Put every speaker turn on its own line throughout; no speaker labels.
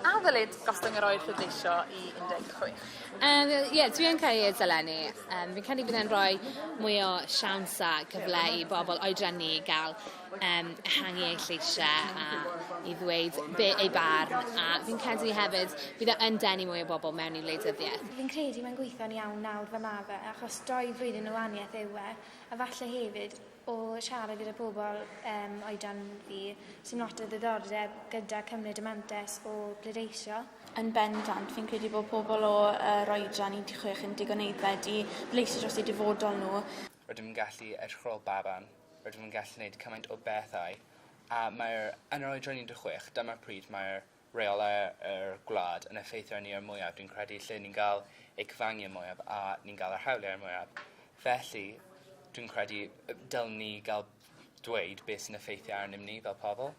A ddylid gostwng yr oed pleidleisio i 16? Um, Ie, yeah,
dwi yn credu y dylen ni. Um, fi'n credu bydd e'n rhoi mwy o siawns a cyfle i bobl oedran ni gael um, ehangu eu lleisiau a i ddweud be ei barn a fi'n credu hefyd bydd e yn denu mwy o bobl mewn i wleidyddiaeth. Fi'n credu mae'n gweithio'n
iawn nawr fe mae fe achos doi flwyddyn o waniaeth yw e a falle hefyd o siarad gyda pobl um, oedran fi sy'n lot o ddiddordeb gyda cymryd y mantes o bledeisio. Yn bendant,
fi'n credu bod pobl o uh, roedran 16 yn digon eiddfed i bleisio dros eu dyfodol nhw. Rydym yn gallu
edrych ar ôl baban, rydym yn gallu gwneud cymaint o bethau, a mae'r... Yn yr oedran 16, dyma'r pryd mae'r rheolau yr gwlad yn effeithio arni o'r mwyaf, dwi'n credu, lle ni'n cael eu cyfangu y mwyaf a ni'n cael yr hawliau y mwyaf. Felly, dwi'n credu y dylwn ni gael dweud beth sy'n effeithio arnyn ni fel pobl.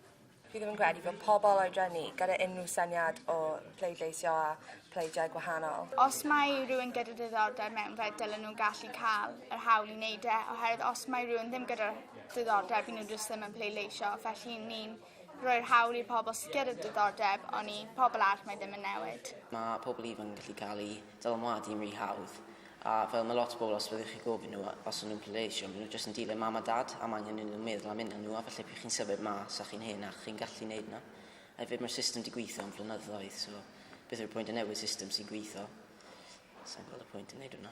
Fi ddim yn credu
bod pobl oedran ni gyda unrhyw syniad o pleidleisio a pleidiau gwahanol. Os mae rhywun
gyda diddordeb mewn fe, dylen nhw gallu cael yr hawl i wneud e, oherwydd os mae rhywun ddim gyda diddordeb, nhw jyst ddim yn pleidleisio. Felly ni'n rhoi'r hawl i'r pobl sydd gyda diddordeb, ond i pobl arall mae ddim yn newid. Mae pobl ifanc yn
gallu cael eu dylanwadu yn rhy hawdd A fel mae lot o bobl os fyddwch chi'n gofyn nhw os o'n nhw'n pleidleisio, maen nhw jyst yn dilyn mam a dad a mae angen iddyn nhw meddwl am unnan nhw a falle pryd chi'n symud mas a chi'n hen a chi'n gallu neud hwnna. A hefyd mae'r system di gwitho am flynyddoedd so beth yw'r pwynt o newid system sy'n gwitho? Sai'n gweld y pwynt yn neud hwnna.